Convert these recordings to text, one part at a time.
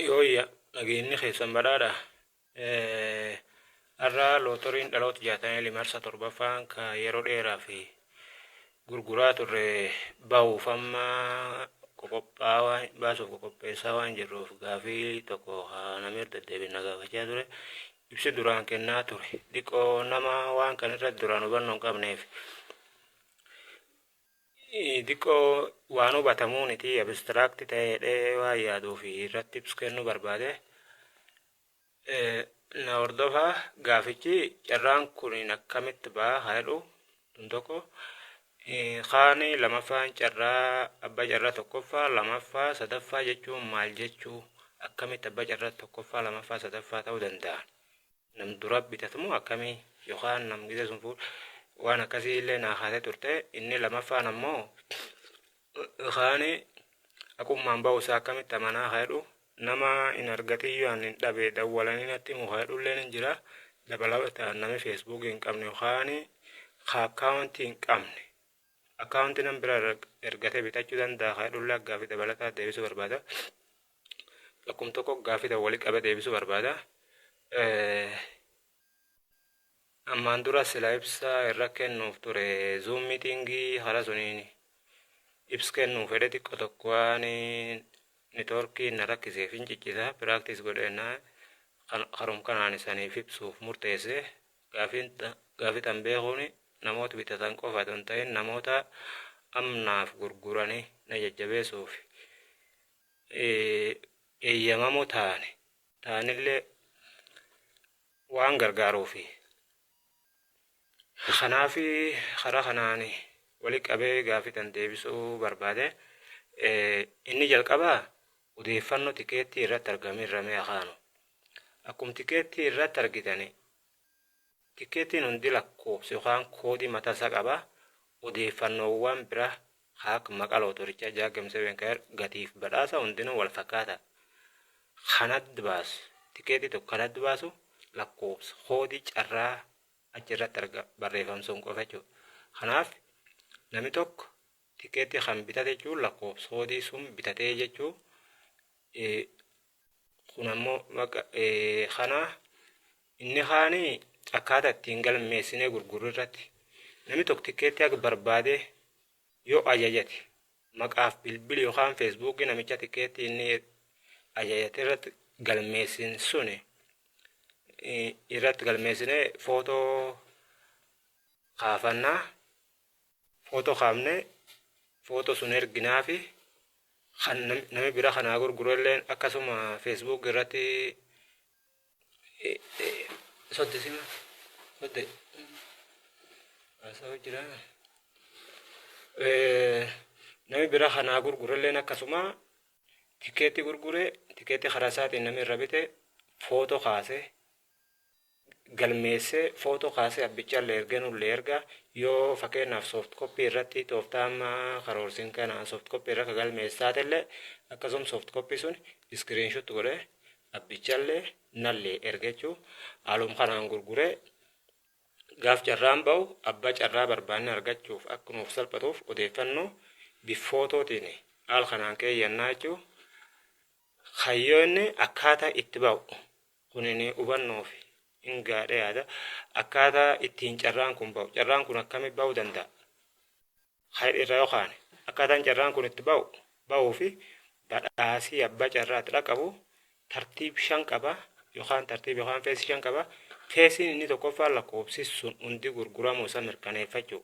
Yooyya nageenyi keessan badhaadha. Har'a lootoriin dhaloota 69 marsa torbaffaan ka yeroo dheeraa fi gurguraa turre bahuuf amma qoqophaa waan baasuuf qoqopheessaa waan jirruuf gaafii tokko haa namni irra deddeebiin na gaafachaa ture. Ibsi duraan kennaa ture xiqqoo nama waan kan irratti duraan hubannoo hin qabneef Diqqoo waan hubatamuuniti abstract ta'ee jedhee waan yaaduu fi irratti ibsu kennuu barbaade. Na hordofa gaafichi carraan kun akkamitti ba'a haa jedhu kun tokko. Kaani lamaffaan carraa abbaa carraa tokkoffaa lamaffaa sadaffaa jechuun maal jechuu akkamitti abbaa carraa tokkoffaa lamaffaa sadaffaa ta'uu danda'a. nam dura bitatu moo akkamii yokaan nam gise sun fuudhe waan akkasii illee naa kaasee turte inni lamaffaan ammoo kaani aqummaan ba'u isaa akkamitti amanaa kaedhu nama hin argatiyyuu an hin dhabe dawwalanii natti himu kaedhu illee hin jira dabalataan nami feesbuukii hin qabne yokaan ka akkaawuntii hin qabne akkaawuntii nam bira ergatee bitachuu danda'a kaedhu illee gaaffii dabalataa deebisuu barbaada. Akkum tokko gaaffii tokko walitti qabee deebisuu barbaada. Ammaan dura sila ibsa irra kennuuf ture zuum miitingii hara suniin ibsa kennuu fedhe xiqqo tokko waan nitoorkii na rakkiseef hin ciccisa piraaktiis godheenna harum kanaan isaniif ibsuuf murteesse gaaffii tan beekuun namoota bitatan qofa otoo hin ta'in namoota amnaaf gurguranii na jajjabeessuuf. eeyyamamoo taane taanillee waan gargaaruufi. Kanaaf karaa kanaan walitti qabee gaaffii tan deebisuu barbaade. Inni jalqabaa odeeffannoo tikeettii irratti argame irra mee akaanu. Akkuma tikeettii irratti argitani Tikkeettiin hundi lakkoofsa yookaan koodii mataa isaa qaba. Odeeffannoowwan bira kan akka maqaa lootorichaa, Jagem Seven Kayer, gatiif badhaasa hundinuu wal fakkaata. Kan adda baasu, tikkeettii tokko kan adda baasu lakkoofsa, koodii carraa achi irratti arga barreeffam sun qofa jechuudha. Kanaaf namni tokko tikkeettii kan bitate jechuun lakkoofsa koodii sun bitatee jechuu kun ammoo maqa kana inni kaani akkaataa ittiin galmeessinee gurgurru irratti namni tokko tikkeetti akka barbaade yoo ajajate maqaaf bilbili yookaan feesbuukii namicha tikkeetti inni ajajate irratti galmeessin suni irratti galmeessinee footoo kaafannaa photo kaafne photo sun erginaafi kan nam- nami bira kanaa gurgurelleen akkasuma facebook irratti sodde sima sodde haasa'u jira Eh, nami bira kanaa gurgurelleen akkasuma tikeetti gurgure tikeetti karaa isaatiin nami irra bite photo kaase galmeessee footoo kaasee abbichaallee ergee nullee erga yoo fakkeenyaaf soft copy irratti tooftaa amma karoorsin kana soft copy irra ka galmeessu taatellee akkasuma soft copy sun screenshot godhee abbichallee nallee erga jechuu haaluma kanaan gurguree gaaf carraan ba'u abbaa carraa barbaanne argachuuf akka nuuf salphatuuf odeeffannoo bifootootiin haal kanaan keeyyannaa jechuu Kayyoo inni akkaataa itti ba'u kunini hubannoof in gaadha yaada akkaataa ittiin carraan kun ba'u carraan kun akkami ba'u danda'a kan irra yoo kaane akkaataan carraan kun itti ba'u ba'uu fi badhaasii abbaa carraa itti dhaqabu tartiib shan qaba yookaan tartiib yookaan feesii shan qaba feesiin inni tokkoffaa lakkoofsi sun hundi gurguramuu isa mirkaneeffachuu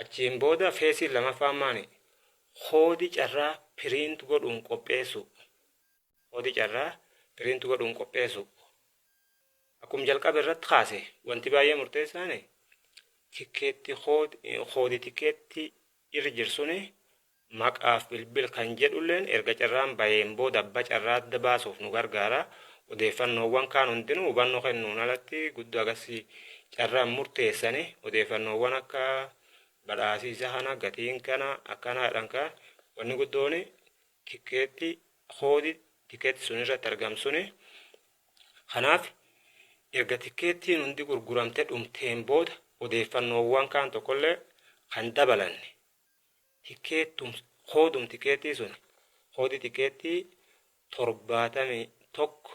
Achiin booda feesiin lamaffaan maani? Koodi carraa print godhuun qopheessuu. Koodi carraa print godhuun qopheessuu. Akkum jalqaba irratti kaase wanti baay'ee murteessaan tikkeetti koodi tikkeetti irra jirsuni Maqaaf bilbil kan jedhulleen erga carraan baheen booda abba carraa adda baasuuf nu gargaara. Odeeffannoowwan kaan hundinuu hubannoo kennuun alatti guddoo agasii carraa hin murteessani. Odeeffannoowwan akka badhaasii isa kana, gatiin kana, akkanaadhan kan wanni guddooni tikkeetti koodi tikkeetti sun irratti argamu suni. Kanaaf erga tikkeettiin hundi gurguramte dhumteen booda odeeffannoowwan kaan tokkollee kan dabalanne. tikeettum koodum tikeettii sun koodii tikeettii torbaatamii tokko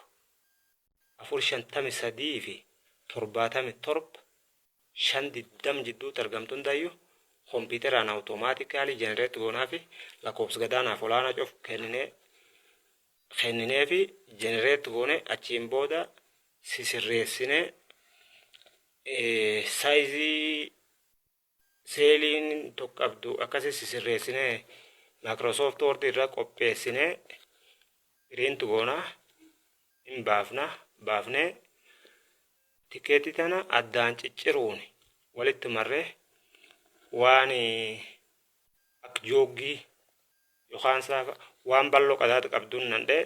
afur shantamii sadii fi torbaatamii torba shan digdam jidduutti argamtu hundayyu kompiiteraan awutomaatikaalii jenereetti goonaa fi lakkoofsa gadaanaaf olaanaa cuf kenninee kenninee fi jenereetti goone achiin booda sisirreessinee saayizii Seeliin tokko qabdu akkasi sisirreessine Microsoft Word irra qopheessine print goona hin baafna baafne tikeetii tana addaan cicciruun walitti marre waan akka jooggii yookaan saafa waan bal'oo qadaada qabduun nandhee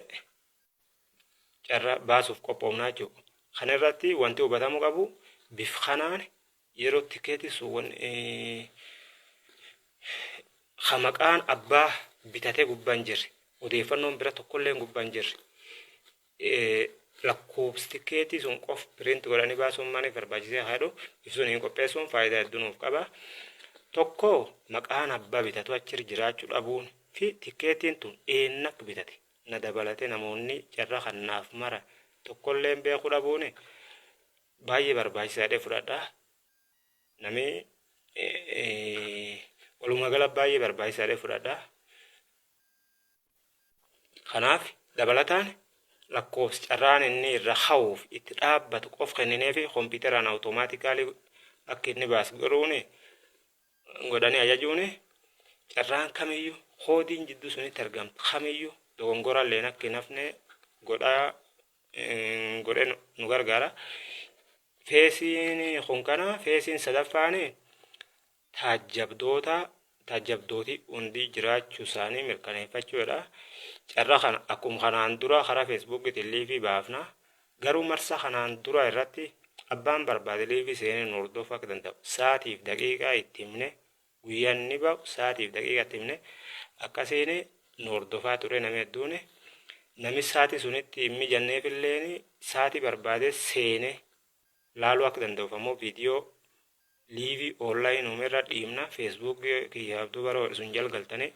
carra baasuuf qophoofnaa jechuudha. Kana irratti wanti hubatamuu qabu bif kanaan Yeroo tikeetiin sun wan ka maqaan abbaa bitatee gubbaa hin jirre odeeffannoon bira tokkolleen gubbaa hin jirre lakkoobsi tikeetii sun qof piriinti godhanii baasuun maaliif barbaachisee haa jedhu ibsuun hin qopheessuun faayidaa hedduu nuuf qaba. Tokko maqaan abbaa bitatu achirra jiraachuu dhabuun fi tikeetiin tun eenna akka bitate na dabalatee namoonni carra kannaaf mara tokkolleen beekuu dhabuun baay'ee barbaachisaadha fudhadha nami walumaa gala baay'ee barbaachisaadha fudhadha kanaaf dabalataan lakkoofsi carraan inni irra hawuuf itti dhaabbatu qof kenninee fi kompiitaraan awutomaatikaalii akka inni baasu godhuun godhanii ajajuun carraan kamiyyuu koodiin jidduu sunitti argamtu kamiyyuu dogongoralleen akka hin hafne godhaa godhe nu gargaara. Feesiin kun kana feesiin sadaffaan taajjabdoota taajjabdooti hundi jiraachuu isaanii mirkaneeffachuudha. Carraa kana akkuma kanaan dura karaa feesbuukiitiin liivii baafna. Garuu marsaa kanaan dura irratti abbaan barbaade liivii seenee nu hordofuu akka danda'u sa'aatiif daqiiqaa itti himne Guyyaan ni ba'u saatiif daqiiqa itti himne akkasiin nu hordofaa ture nami hedduun. Nami saati sun itti hin mijanneefilleen saati barbaade seene laaluu akka danda'uuf ammoo video liivi online ume irra dhiimna facebook kiyya abduu baroo sun jal galtanii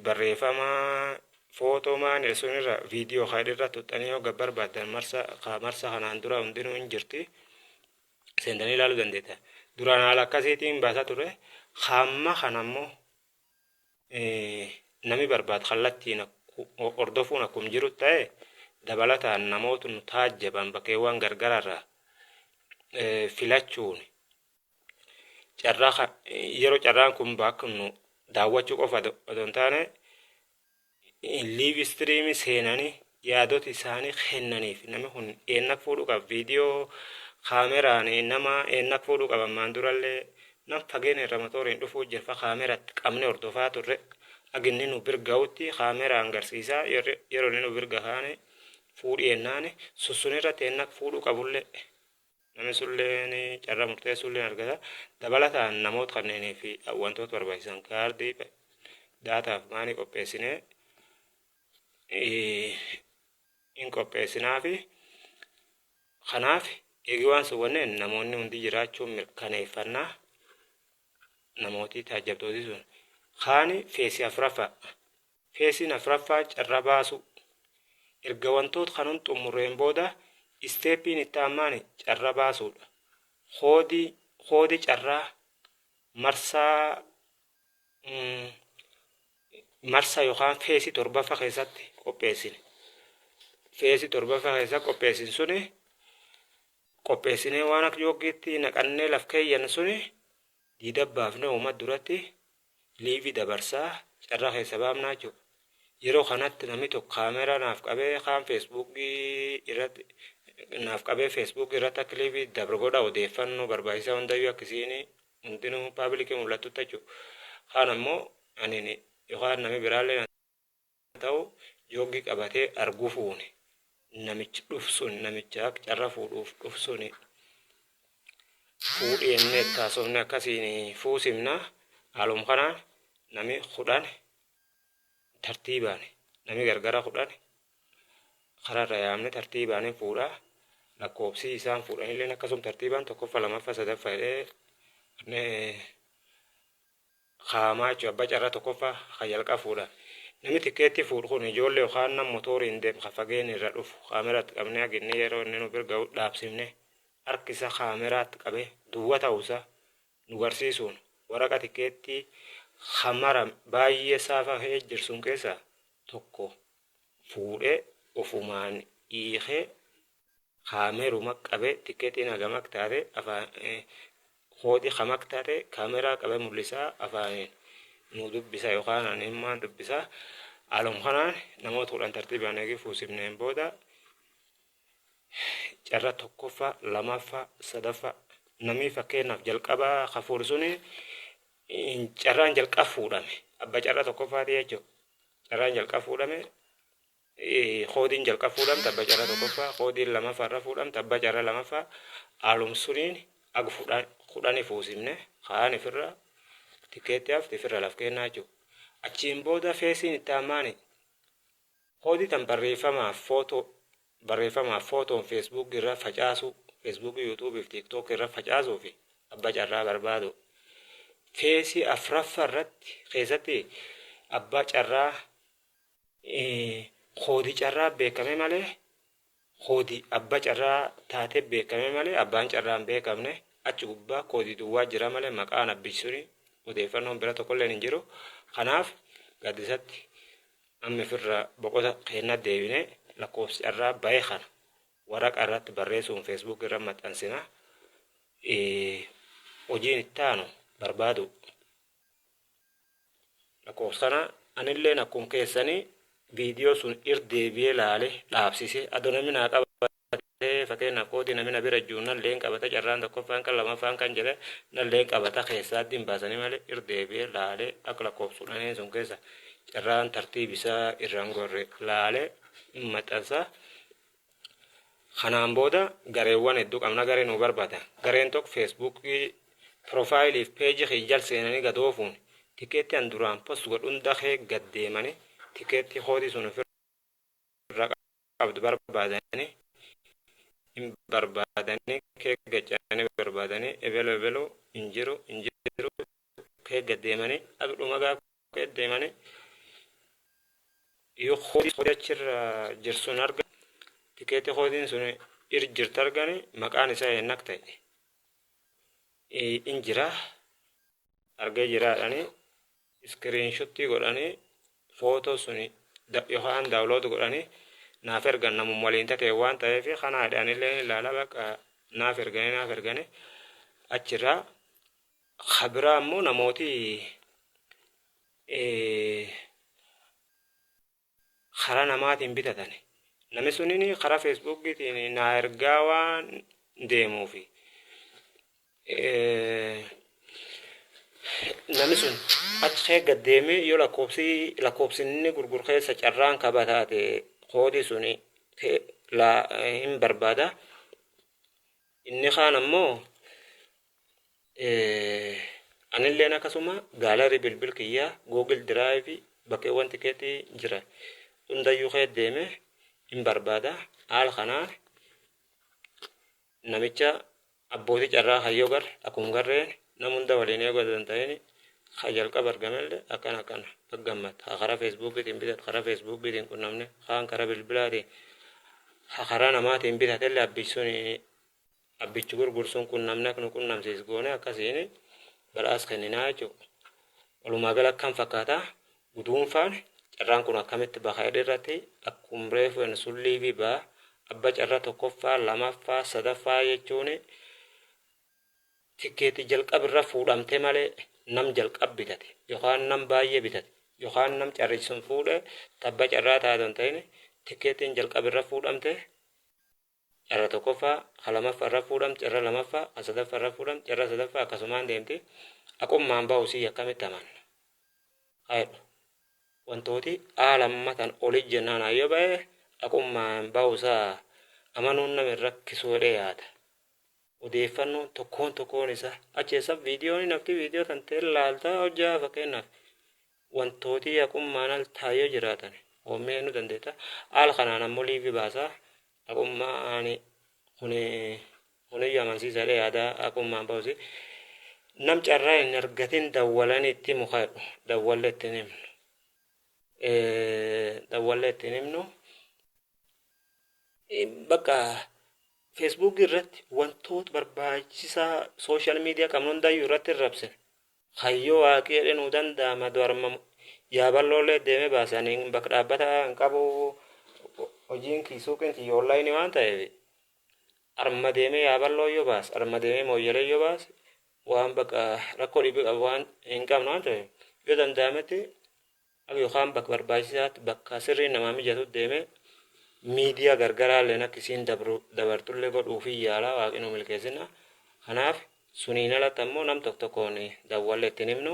Barreefama, Footoo maan ira sun irra video ka dhirra tuxxanii yoo gad barbaaddan marsa ka marsa kanaan dura hundinuu hin jirti seentanii ilaaluu dandeetta. Duraan haala akkasiitiin baasaa ture. Hamma kana immoo nami barbaad kallattiin hordofuun akkum jiru ta'e dabalataan namoota nu taajjaban bakkeewwan gargaraarraa filachuun carraa kan yeroo carraan kun baaknu daawwachuu qofa otoo hin taane liiv istiriimii seenanii yaadota isaanii kennaniif namni kun eennak fuudhuu qaba viidiyoo kaameraan nama eennak fuudhuu qaba ammaan durallee nam fageenya irra motooriin dhufuu jirfa kaameratti qabne hordofaa turre aginni nu birga'utti kaameraan garsiisaa yeroo inni nu birga kaane fuudhii ennaan sussun irratti eennak fuudhuu qabullee Namni sunilleen carraa murteessuulleen argata. Dabalataan namoota kanneenii fi wantoota barbaachisan kaardii daataaf maanii qopheessinee hin qopheessinaafi. Kanaaf eegi waan sun wanneen namoonni hundi jiraachuu mirkaneeffannaa namootii taajjabdootii sun kaani feesii afuraffaa Feesiin afraffaa carra baasuu. Erga wantoot kan hund xummurreen booda isteeppiin itti aanmaani carra baasuudha. Koodii, koodi carraa marsaa marsa yookaan feesii torbaffa keessatti qopheessine. Feesii torbaffa keessa qopheessin suni qopheessinee waan akka jooggiitti naqannee laf keeyyan suni diida baafne uumat duratti live dabarsaa carraa keessa baafnaa jechuudha. Yeroo kanatti namni tokko kaameeraa naaf qabee kaan Facebook irratti naaf qabee Facebook irratti akka live dabra godha odeeffannoo barbaachisaa hundayyuu akka isiin hundinuu paabilikii mul'attutti jechuudha. Kaan ammoo ani yookaan namni biraallee Haa ta'u jooggi qabatee argufuuni namichi dhuf sun namicha carra fuudhuuf dhuf suni fuudhi jennee itti haasofne akkasiin fuusimna haalum kanaan nami kudhan tartiibaan nami gargara kudhan kararra yaamne tartiibaanin fuudha lakkoobsii isaan fuudhanilleen akkasum tartiibaan tokkoffa lamaffa sadaffa jedhee Kaamaachu abba carra tokkoffa ka jalqa fuudha. Nami tikkeetti fuudhu kun ijoolle yokaan nam motooriin deem ka fageenni irra dhufu kaameratti qabne hagi inni yero inni nu bir gahu dhaabsifne harki isa kaameraatti qabe duwwa tahu isa nu garsiisuun waraqa tikkeettii ka mara baay'ee saafa kee jir sun keessa tokko fuudhe ofumaan hiikee Kaameruma qabe tiketin hagam ak taate afaan koodi kam ak taate kaameraa qabe mul'isaa afaanin nu dubbisa yookaan ani himmaan dubbisa haaluma kanaan namoota kudhan tartiibaan eegee fuusifneen booda carra tokkoffaa lamaffaa sadaffaa namii fakkeenyaaf jalqabaa kafuur suni carraan jalqab fuudhame abba carra tokkoffaatii jechuudha carraan jalqab fuudhame Koodiin jalqaba fuudhamte abba carra tokkoffaa, koodiin lamaffa irra fuudhamte abba carra lamaffa alum suniin ag kudhani fuusimne kaan ifirra tikkeetti hafte ifirra laf keennaa jechuu. Achiin booda feesiin itti aammaani koodii tan barreeffamaaf footoo barreeffamaaf footoon feesbuuk irra facaasuu feesbuuk yuutuubii fi tiiktook irra facaasuu fi abba carraa barbaadu. Feesii afraffa irratti keessatti abba carraa Koodi carraa beekame malee koodi abba carraa taatee beekame malee abbaan carraa hin beekamne achi gubbaa koodi duwwaa jira malee maqaan abbichi suni odeeffannoon bira tokkolleen hin jiru kanaaf gaaddisatti amma firra boqota keenna deebine lakkoofsi carraa bahe kana waraqa irratti barreessuun feesbuuk irra maxxansina hojiin ittaanu barbaadu Lakoofsana anilleen akkum keessani video sun ir deebi'ee laale dhaabsise ado nami naa qabate fakeenna koodi nami na bira jiru nalleen qabata carraan tokkoffaan kan lamaffaan kan jedhe nalleen qabata keessaa addi hin baasani male ir deebi'ee laale ak lakkoofsun aneen sun keessa carraan tartiib isaa irraan gorre laale hin maxxansa Kanaan booda gareewwan heddu qabna garee nuu barbada gareen tokko facebook profile fi page kiyya jal seenani gad oofuun tikeetti an duraan post godhu hunda kee gad deemani tikeetti code sun of irra qabdu barbaadani hin barbaadani kee gad ce'ani barbaadani ebelu ebelu hin jiru hin jiru kee gad deemani ag dhuma gaafa Gad deemanii yoo koodii koodii achirra jirsun arga tikeetii koodiin sun ir jirta argani maqaan isaa eennak ta'e in jira argee jiraadhanii iskiriinshottii godhanii footoo sun yookaan daawulood godhanii naaf ergan namum waliin tatee waan ta'eef kanaa jedhanillee ilaala baqa naaf erganii naaf erganii achirraa Ka biraa ammoo namooti karaa namaatiin bitatani. Nami sunin karaa Feesbuukiitiin naa ergaa waan deemuufi. Nami sun achi kee gad deemee yoo lakkoobsi lakkoobsi inni gurguru keessa carraan kaba taate koodii suni hin barbaada. Inni kaan ammoo anilleen akkasuma gaalarii bilbil kiyyaa Google Drive bakkeewwan tikeetii jira hundayyuu kee deeme hin barbaada. Haala kanaan namicha abbootii carraa kayyoo gar akkuma garreen nam hunda waliin eeguu danda'een Ka jalqaba argamelle akkana akkana. Baga gammadde. Ha karaa Feesbuukiitiin bitadhu, karaa Feesbuukiitiin qunnamne, kaan karaa bilbilaatiin, ha karaa namaatiin bitatelle abbichi suni abbichi gurguru sun qunnamne akka nu qunnamsiisu goone akkasiin badhaasa kenninaa jechuudha. Walumaa gala akkam fakkaata guduunfaan carraan kun akkamitti baha jedhe irratti akkuma reefu jennu sun liivii baha abba carraa tokkoffaa, lamaffaa, sadaffaa jechuun Tikkeeti jalqab irra fuudhamte malee nam jalqab bitate yokaan nam baay'ee bitate yokaan nam carrichi sun fuudhe tabba carraa taate hin ta'in tikkeettiin jalqab irra fuudhamte carra tokkoffaa ka lamaffa irra fuudhamte carra lamaffa ka sadaffa irra fuudhamte carra sadaffa akkasumaan deemti aqummaan ba'u sii akkamitti amanna haa jedhu wantooti aa lammatan oli jennaan hayyoo ba'e aqummaan ba'u isaa amanuun nama hin rakkisu jedhee yaada. odeeffannoon tokkoon tokkoon isaa achi eessa viidiyoon nafti viidiyoo tan ta'e laaltaa hojjaa fakkeenyaaf wantootii haqummaan al taayoo jiraatan hoomee nu dandeetta al kanaan ammoo liivii baasaa haqummaan kuni kuniyyu amansiisaadha yaada haqummaan ba'usi nam carraa hin argatin dawwalan itti mukaadhu dawwalle itti hin himnu dawwalle itti hin himnu bakka Facebook irratti wantoota barbaachisaa social media qabnu hundayyuu irratti hin rabsine. Kan yoo waaqii jedhe nuu danda'a madu arma yaaballoollee deeme baase ani bakka dhaabbata hin qabu hojiin kii suuqiin tiyya online waan ta'eef arma deemee yaaballoo yoo baase arma deemee mooyyalee yoo baase waan bakka rakkoo dhibii qabu waan hin qabnu waan ta'eef yoo danda'ametti Nama yookaan bakka barbaachisaatti bakka sirriin namaa mijatutti deemee miidiyaa gargaraalleen akka isiin dabartullee godhuufii yaala waaqni nuu milkeessinna. Kanaaf suniin alatti ammoo nam tokko tokkoon dawwallee ittiin himnu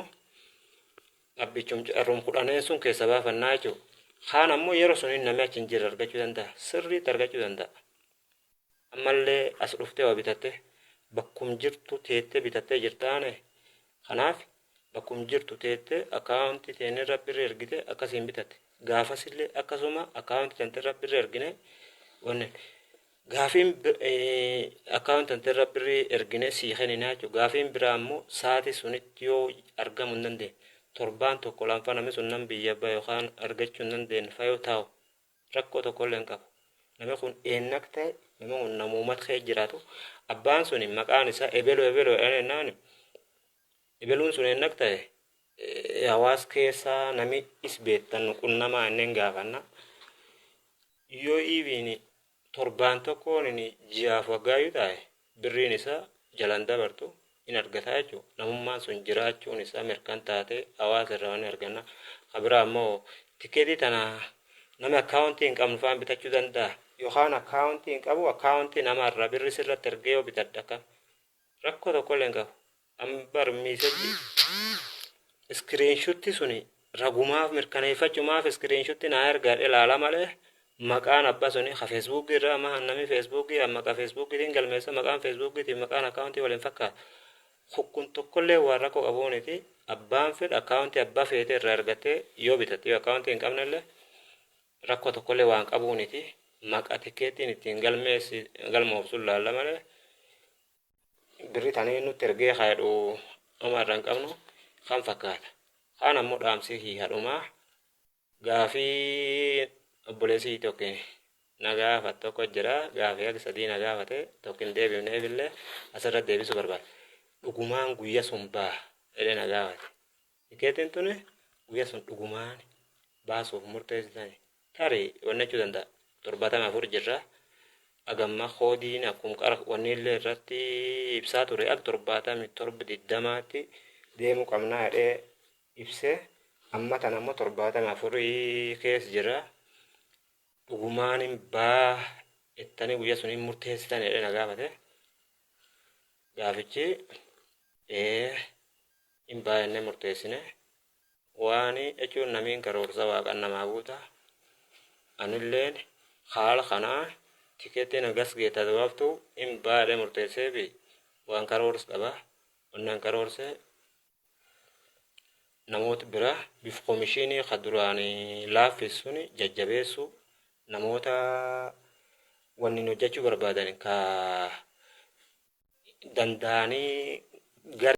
abbichum carrum kudhaneen sun keessa baafannaa jechuudha. Kaan ammoo yeroo suniin namni achi hin jirre argachuu danda'a. Sirriitti argachuu danda'a. Ammallee as dhuftee waa bitattee bakkum jirtu teettee bitattee jirtaane. Kanaaf Akkum jirtu teette account teen irra birri ergite akkasiin bitate. Gaafasille akkasuma account tante irra birri ergine wanne gaafiin account tante irra birri ergine sii kenina jechuudha. Gaafiin biraa ammoo saati sunitti yoo argamu hin dandeenye. Torbaan tokko laanfa namni sun nam biyya bahe yookaan argachuu hin dandeenye fayoo taa'u rakkoo tokko illee hin qabu. Namni kun eennak ta'e namni kun namuumat kee jiraatu abbaan suni maqaan isaa ebelo ebelo jedhan jennaan Ebaluun sun ennaq ta'e hawaas keessa nami is beettan nu qunnamaa ennen gaafanna. Yoo even torbaan tokkoon inni ji'aaf waggaayyuu taa'e birriin isaa jalan dabartu in argataa jechuudha. Namummaan sun jiraachuun isaa mirkan taatee hawaasa irraa ni arganna. Ka biraa immoo tikeetii tana nami akkaawuntii hin qabnu faan bitachuu danda'a. Yookaan akkaawuntii hin qabu akkaawuntii nama irraa birri sirratti ergee yoo bitadha akkam. Rakkoo tokkollee hin qabu. Amma bar miisajji iskiriinshutti suni ragumaaf mirkaneeffachumaaf iskiriinshutti naa ergaadhe ilaala malee maqaan abba suni ka feesbuukii irraa amma hannami feesbuukii maqaa feesbuukiitiin galmeessa maqaan feesbuukiitiin maqaan akkaawuntii waliin fakkaata. Kun tokkollee waan rakkoo qabuuniti abbaan fedha akkaawuntii abbaa feete irraa ergattee yoo bitatte yoo akkaawuntii hin qabnellee Rakkoo tokkollee waan qabuu niti. Maqa tikkeettiin ittiin galmeessi galmoofsun laalla malee birri tanii nutti ergee haa jedhu ama irra hin qabnu kan fakkaata. Kaan ammoo dhaamsii kiyya dhumaa gaafii obboleessii tokkin na gaafat tokko jira gaafii hagi sadii na gaafate tokkin deebifneef illee asirra deebisuu barbaada. Dhugumaan guyya sun baa jedhee na gaafate. Tikeetiin tuni guyya sun dhugumaan baasuuf murteessitani? Tarii onnachuu danda'a. 74 jirra. Agamma koodiin akkum qara wanniillee irratti ibsaa ture al 77 20tti deemuu qabnaa jedhee ibse. Amma tan ammoo 74 keessa jira. Dhugumaan hin baa ittanii guyya sun hin murteessitan jedhee na gaafate. Gaafichi ee hin baa jennee murteessine. Waani jechuun namiin karoorsa waaqan namaa guuta. Anilleen haala kanaan tikeettii na gasgee tadabaabtu hin baa jedhee murteessee fi waan karoors qaba. Wannaan karoorse namoota bira bif komishiinii ka duraan laaffissuun jajjabeessu namoota wanni hojjechuu barbaadan ka danda'anii gara.